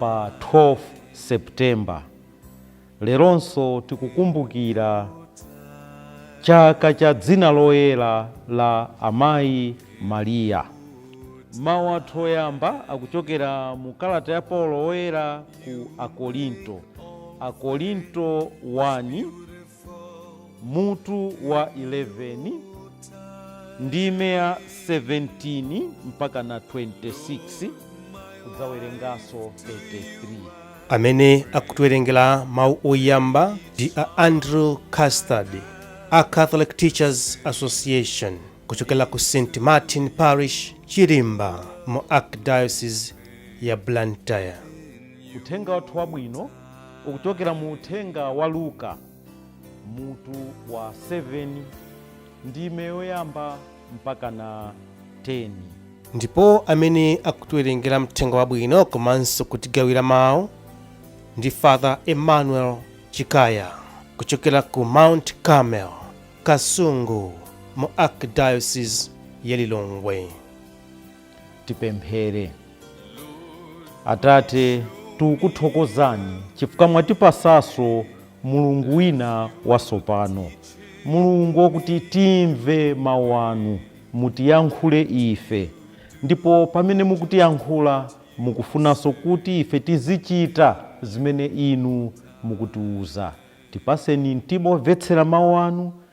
pa 12 September. Leronso tikukumbukira chaka cha dzina loyera la Amayi Maria. Mawu athu oyamba akuchokera mu kalata ya Paulo Woyera ku Akorinto, Akorinto 1. mutu wa 11 ndime ya 17 mpaka na 26 kudzawerenganso 33 amene akutiwerengera mawu oyamba ndi a andrew custard a catholic teachers association kuchokera ku st martin parish chirimba mu archdiocese ya blantyre uthenga wathu wabwino ukuchokera mu uthenga wa Luka mutu wa 7 ndime yoyamba mpaka na 10. ndipo amene akutiwerengera mthenga wabwino komanso kutigawira mawu ndi father emmanuel chikaya kuchokera ku mount carmel kasungu mu archdiocese ya lilongwe Tipemphere. Atate, tikukuthokozani chifukwa mwatipasanso mulungu wina watsopano mulungu wakuti timve mawu anu mutiyankhule ife ndipo pamene mukutiyankhula mukufunanso kuti ife tizichita zimene inu mukutiuza tipaseni mtima omvetsera mawu anu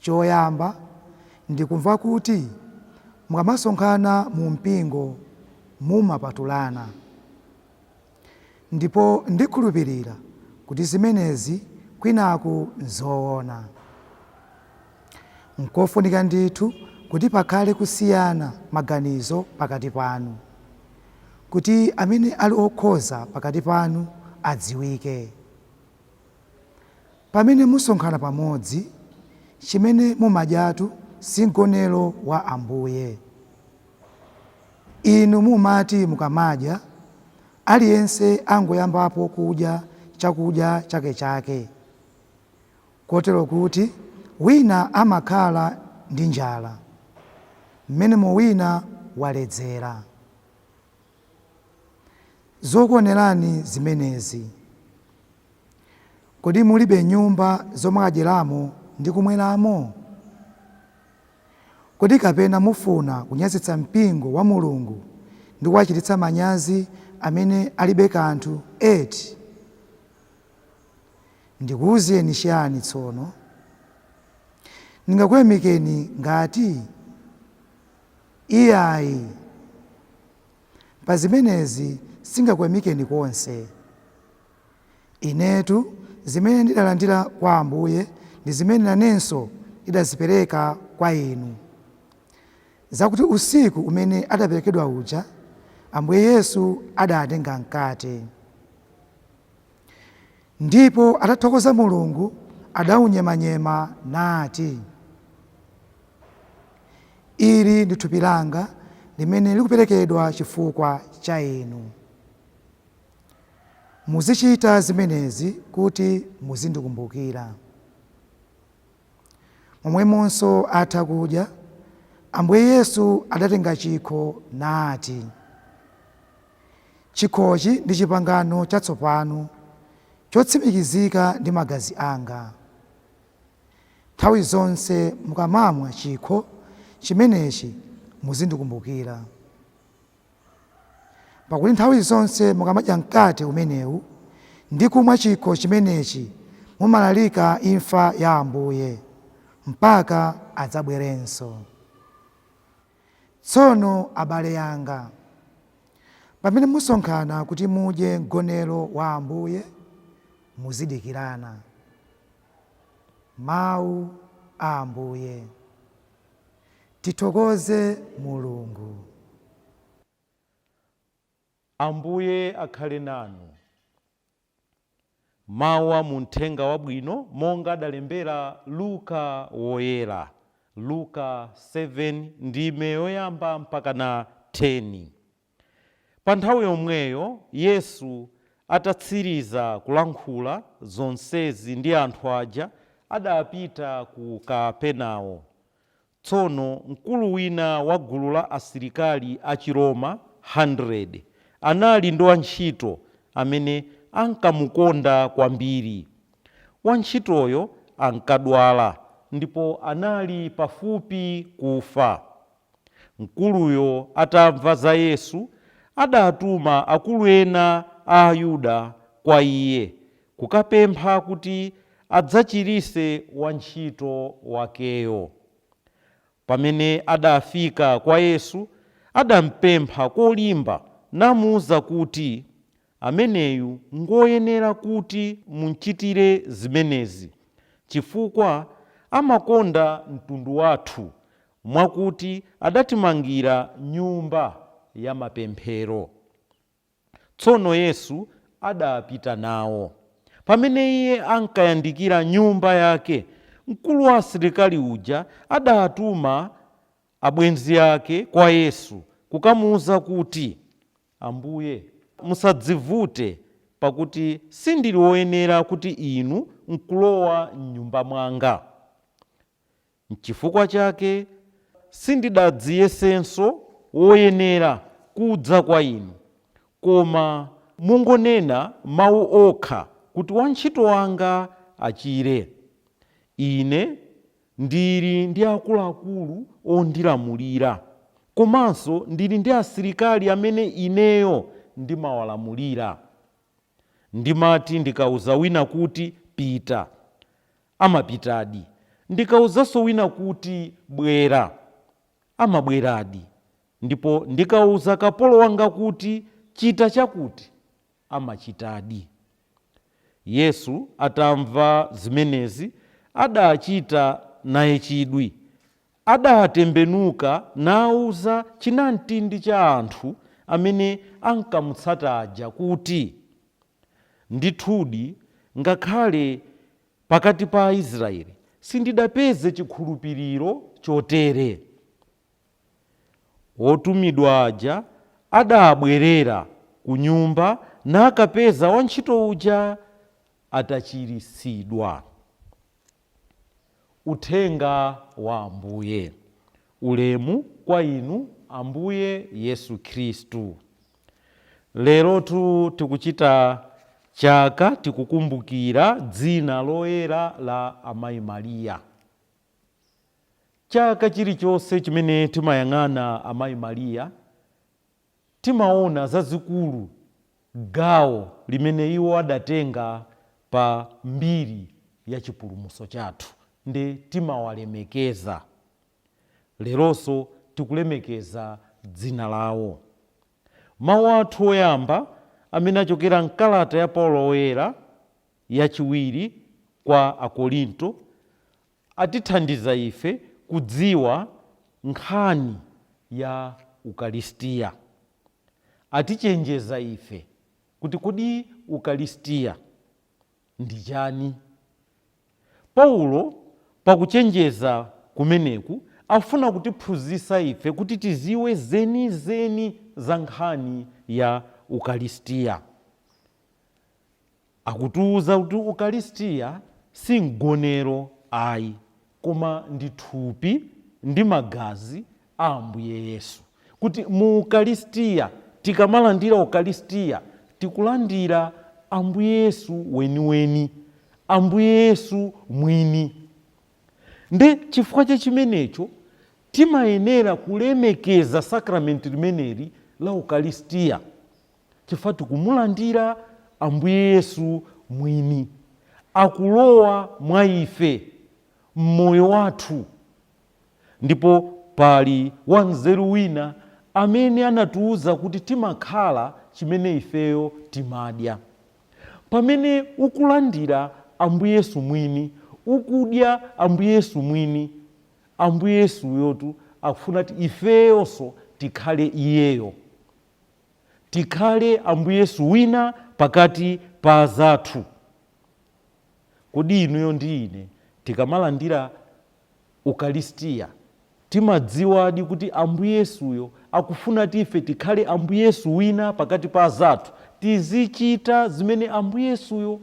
Choyamba, ndikumva kuti mukamasonkhana mu mpingo mumapatulana. Ndipo ndikhulupirira kuti zimenezi kwinaku n'zoona. N'kofunika ndithu kuti pakhale kusiyana maganizo pakati panu, kuti amene ali okhoza pakati panu adziwike. Pamene musonkhana pamodzi, chimene mumadyatu si Mgonero wa Ambuye. Inu mumati mukamadya, aliyense angoyambapo kudya chakudya chakechake, kotero kuti wina amakhala ndi njala, mmenemo wina waledzera. zokuonerani zimenezi? Kodi mulibe nyumba zomakadyeramo ndi kumweramo? Kodi kapena mufuna kunyazitsa mpingo wa Mulungu ndi kuwachititsa manyazi amene alibe kanthu eti? Ndikuwuzeni chiyani tsono? Ndingakuyamikeni ngati? Iyayi! Pa zimenezi sindingakuyamikeni konse. Inetu zimene ndidalandira kwa Ambuye ndi zimene nanenso ndidazipereka kwa inu, zakuti usiku umene adaperekedwa uja, Ambuye Yesu adaatenga mkate. Ndipo atathokoza Mulungu, adaunyemanyema, nati, Ili ndi thupi langa limene likuperekedwa chifukwa cha inu. Muzichita zimenezi kuti muzindikumbukira. Momwemonso atha kudya, Ambuye Yesu adatenga chikho nati. Chikhochi ndi chipangano chatsopano chotsimikizika ndi magazi anga. Nthawi zonse mukamamwa chikho chimenechi muzindikumbukira. Pakuti nthawi zonse mukamadya mkate umenewu ndi kumwa chikho chimenechi mumalalika imfa ya Ambuye mpaka adzabwerenso. Tsono abale anga, pamene musonkhana kuti mudye mgonero wa Ambuye, muzidikirana. Mawu a Ambuye. Tithokoze Mulungu. Ambuye akhale nanu. Mawu a mu Mthenga Wabwino monga adalembera Luka Woyera, Luka 7 ndime yoyamba mpaka 10. Pa nthawi yomweyo Yesu atatsiriza kulankhula zonsezi ndi anthu aja adapita ku Kapernao. Tsono mkulu wina wa gulu la asilikali achiroma 100, anali ndi wantchito amene ankamukonda kwambiri. Wantchitoyo ankadwala ndipo anali pafupi kufa. Mkuluyo atamva za Yesu, adatuma akulu ena a Ayuda kwa Iye kukapempha kuti adzachiritse wantchito wakeyo. Pamene adafika kwa Yesu, adampempha kolimba namuuza kuti, Ameneyu ngwoyenera kuti mumchitire zimenezi, chifukwa amakonda mtundu wathu, mwakuti adatimangira nyumba yamapemphero. Tsono Yesu adapita nawo. Pamene Iye ankayandikira nyumba yake, mkulu wa asilikali uja adatuma abwenzi ake kwa Yesu kukamuuza kuti, Ambuye, musadzivute, pakuti sindili woyenera kuti Inu nkulowa m'nyumba mwanga. Nchifukwa chake sindidadziyesenso woyenera kudza kwa inu, koma mungonena mau okha kuti wantchito wanga achire. Ine ndili ndi akuluakulu ondilamulira, komanso ndili ndi asilikali amene ineyo ndimawalamulira. Ndimati ndikauza wina kuti, Pita! amapitadi. Ndikauzanso wina kuti, Bwera! amabweradi. Ndipo ndikauza kapolo wanga kuti, Chita chakuti! amachitadi. Yesu atamva zimenezi, adachita naye chidwi, Adatembenuka nauza chinamtindi cha anthu amene ankamutsata aja kuti, Ndithudi, ngakhale pakati pa Aisraeli sindidapeze chikhulupiriro chotere. Otumidwa aja adabwerera ku nyumba nakapeza wantchito uja atachiritsidwa. Uthenga wa Ambuye. Ulemu kwa Inu, Ambuye Yesu Khristu. Lerotu tikuchita chaka tikukumbukira dzina loyera la Amayi Maria. Chaka chilichonse chimene timayang'ana Amayi Maria, timaona zazikulu gawo limene iwo adatenga pa mbiri ya chipulumutso chathu nde timawalemekeza. Leronso tikulemekeza dzina lawo. Mawu athu oyamba amene achokera m'kalata ya Paulo Woyera yachiwiri kwa Akorinto atithandiza ife kudziwa nkhani ya Ukalistia. Atichenjeza ife kuti kodi Ukalistia ndi chani? Paulo pakuchenjeza kumeneku afuna kutiphunzisa ife kuti tiziwe zenizeni za nkhani ya Ukalistia. Akutiuza kuti Ukalistia si mgonero ayi, koma ndi thupi ndi magazi a Ambuye Yesu. Kuti mu Ukalistia, tikamalandira Ukalistia, tikulandira Ambuye Yesu weniweni, Ambuye Yesu mwini. Nde chifukwa cha chimenecho, timayenera kulemekeza sakramenti limeneli la Ukalistia. chifukwa tikumulandira Ambuye Yesu mwini akulowa mwa ife m'moyo wathu. Ndipo pali wanzeru wina amene anatiuza kuti timakhala chimene ifeyo timadya. Pamene ukulandira Ambuye Yesu mwini, ukudya Ambuye Yesu mwini, Ambuye Yesuyotu akufuna kuti ifeyonso tikhale Iyeyo. tikhale Ambuye Yesu wina pakati pa azathu. Kodi inuyo ndi ine tikamalandira Ukalistia timadziwadi kuti Ambuye Yesuyo akufuna kuti ife tikhale Ambuye Yesu wina pakati pa azathu? Tizichita zimene Ambuye Yesuyo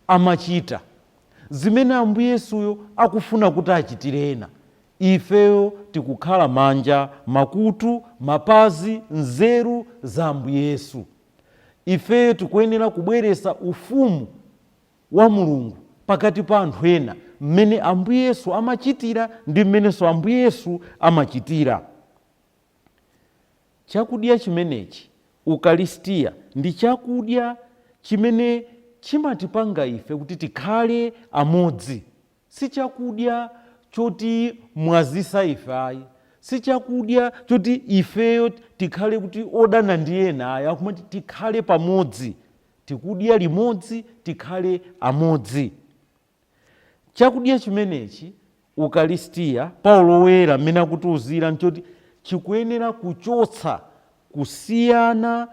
amachita, zimene Ambuye Yesuyo akufuna kuti achitire ena. Ifeyo tikukhala manja, makutu, mapazi, nzeru za Ambuye Yesu. Ifeyo tikuyenera kubweresa ufumu wa Mulungu pakati pa anthu ena mmene Ambuye Yesu amachitira ndi mmenenso Ambuye Yesu amachitira. Chakudya chimenechi, Ukalistia, ndi chakudya chimene chimatipanga ife kuti tikhale amodzi. si chakudya chotimwazisa ife ayi, si chakudya choti ifeyo tikhale kuti odana ndi ena ayi, akumati tikhale pamodzi, tikudya limodzi, tikhale amodzi. Chakudya chimenechi, Ukalistia, Paulo Woyera mmene akutiuzira nchoti chikuyenera kuchotsa kusiyana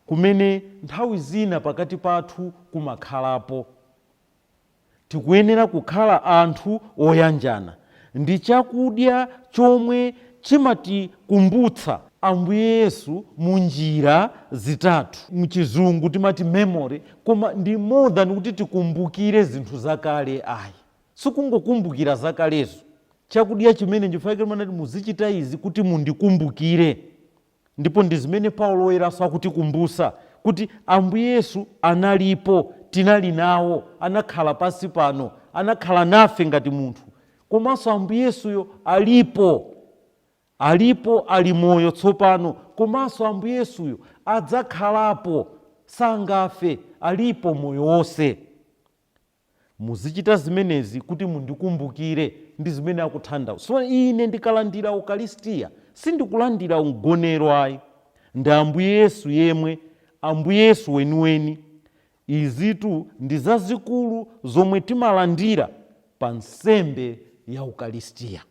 kumene nthawi zina pakati pathu kumakhalapo. Tikuyenera kukhala anthu oyanjana ndi chakudya chomwe chimatikumbutsa Ambuye Yesu mu njira zitatu. Mchizungu timati memory koma ndi more than kuti tikumbukire zinthu zakale ayi. Sikungokumbukira zakalezo. Chakudya chimene, nchifukwa chake amati muzichita izi kuti mundikumbukire. Ndipo ndi zimene Paulo Woyeranso akutikumbutsa, kuti Ambuye Yesu analipo, tinali nawo, anakhala pansi pano, anakhala nafe ngati munthu, komanso Ambuye Yesuyo alipo, alipo, ali moyo tsopano, komanso Ambuye Yesuyo adzakhalapo, sangafe, alipo moyo wonse. Muzichita zimenezi kuti mundikumbukire, ndi zimene akuthandauza. So ine ndikalandira Ukalistia, sindikulandira mgonero ayi. Ndi Ambuye Yesu yemwe, Ambuye Yesu weniweni. Izitu ndi zazikulu zomwe timalandira pa nsembe ya Ukalistia.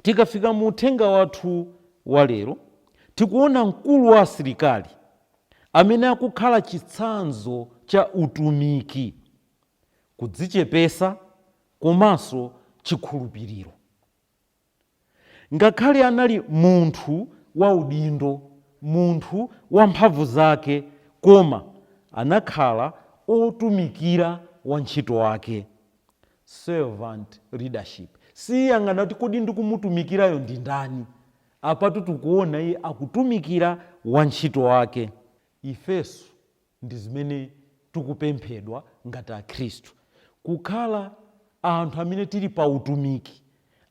Tikafika mu uthenga wathu wa lero, tikuona mkulu wa asilikali amene akukhala chitsanzo cha utumiki, kudzichepesa komanso chikhulupiriro. Ngakhale anali munthu wa udindo, munthu wa mphamvu zake koma anakhala otumikira wantchito wake. Servant leadership. Siyang'ana kuti kodi ndikumutumikirayo ndi ndani. Apatu tikuona iye akutumikira wantchito wake. Ifenso ndi zimene tikupemphedwa ngati akhristu. Kukhala anthu amene tili pa utumiki,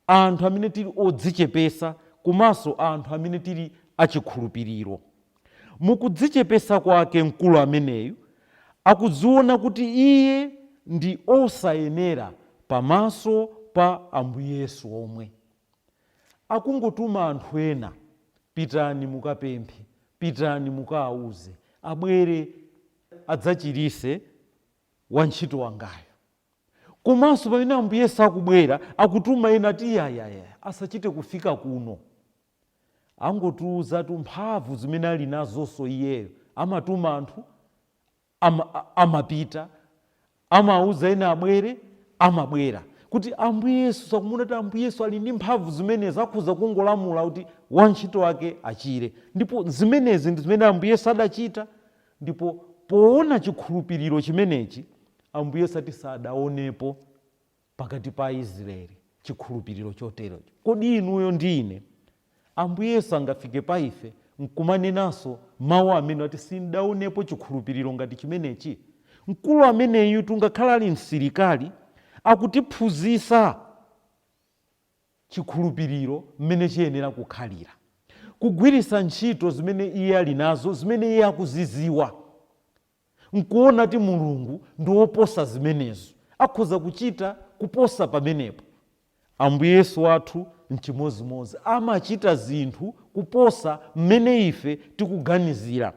anthu amene tili odzichepesa komanso anthu amene tili achikhulupiriro. Mu kudzichepesa kwake mkulu ameneyu akudziona kuti iye ndi osayenera pamaso pa Ambuye Yesu omwe. Akungotuma anthu ena, Pitani mukapemphe, pitani mukaauze abwere adzachirise wantchito wangayo. Komanso pamene Ambuye Yesu akubwera, akutuma ena ati, Iyayi, ayi, ayi, asachite kufika kuno. angotiuzatu mphamvu zimene ali nazonso iyeyo amatuma anthu amapita amauza ena abwere amabwera kuti ambuye yesu akumuona kuti ambuye yesu ali ndi mphamvu zimenezi akhoza kungolamula kuti wantchito wake achire ndipo zimenezi ndi zimene ambuye yesu adachita ndipo poona chikhulupiriro chimenechi ambuye yesu ati sadaonepo pakati pa Aisraeli chikhulupiriro choterocho. Kodi inuyo ndi ine, Ambuye Yesu angafike pa ife n'kumanenanso mawu amene ati, Sin'daonepo chikhulupiriro ngati chimenechi? Mkulu ameneyutu ngakhale ali msilikali, akutiphunzitsa chikhulupiriro mmene chiyenera kukhalira, kugwiritsa ntchito zimene iye ali nazo, zimene iye akuzidziwa. nkuona kuti Mulungu ndi woposa zimenezo, akhoza kuchita kuposa pamenepo. Ambuye Yesu wathu n'chimodzimodzi, amachita zinthu kuposa mmene ife tikuganizira,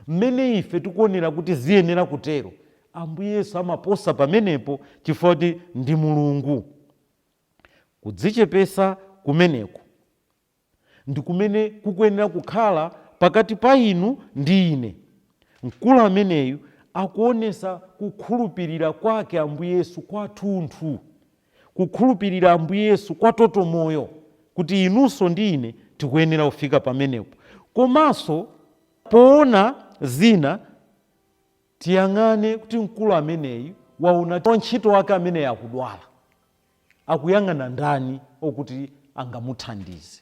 mmene ife tikuonera kuti ziyenera kutero. Ambuye Yesu amaposa pamenepo chifukwa kuti ndi Mulungu. Kudzichepetsa kumeneku ndi kumene kukuyenera kukhala pakati pa inu ndi ine. Mkulu ameneyu akuonesa kukhulupirira kwake Ambuye Yesu kwathunthu, kukhulupirira Ambuye Yesu kwa toto moyo kuti inunso ndi ine tikuyenera kufika pamenepo. Komanso poona zina tiyang'ane kuti mkulu ameneyu waona wantchito wake ameneyu akudwala. Akuyang'ana ndani okuti angamuthandize.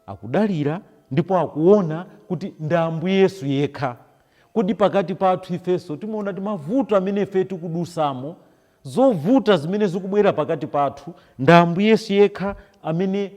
Akudalira ndipo akuona kuti ndi Ambuye Yesu yekha. Kodi pakati pathu ifenso timaona ti mavuto amene ife tikudusamo, zovuta zimene zikubwera pakati pathu, ndi Ambuye Yesu yekha amene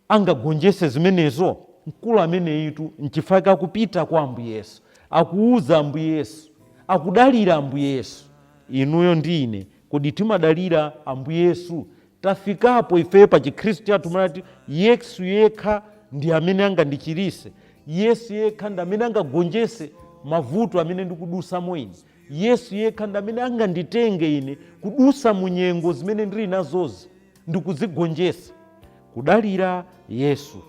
angagonjetse zimenezo? Mkulu ameneyitu n'chifukwa chake akupita kwa Ambuye Yesu, akuuza Ambuye Yesu, akudalira Ambuye Yesu. Inuyo ndi ine, kodi timadalira Ambuye Yesu? Tafikapo ife pa chikhristu chathu kumanati, Yesu yekha ndi amene angandichiritse, Yesu yekha ndi amene angagonjetse mavuto amene ndikudutsamo ine, Yesu yekha ndi amene anganditenge ine kudutsa mu nyengo zimene ndili nazozi. ndi kudzigonjetsa, kudalira Yesu,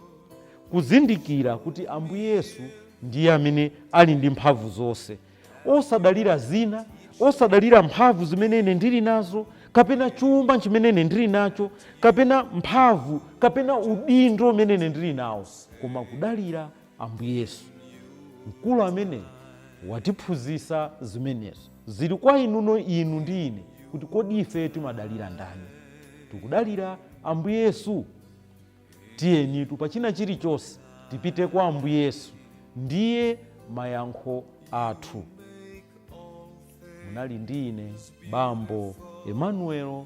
kuzindikira kuti Ambuye Yesu ndiye amene ali ndi mphamvu zonse, osadalira zina, osadalira mphamvu zimene ine ndili nazo kapena chuma chimene ine ndili nacho kapena mphamvu kapena udindo umene ine ndili nawo, koma kudalira Ambuye Yesu, mkulu ameneyu watiphunzitsa zimenezo. Ziri kwa inuno, inu ndi ine, kuti kodi ife timadalira ndani. Tikudalira Ambuye Yesu? Tiyenitu, pa china chirichonse, tipite kwa Ambuye Yesu. Ndiye mayankho athu. Munali ndi ine, Bambo Emmanuel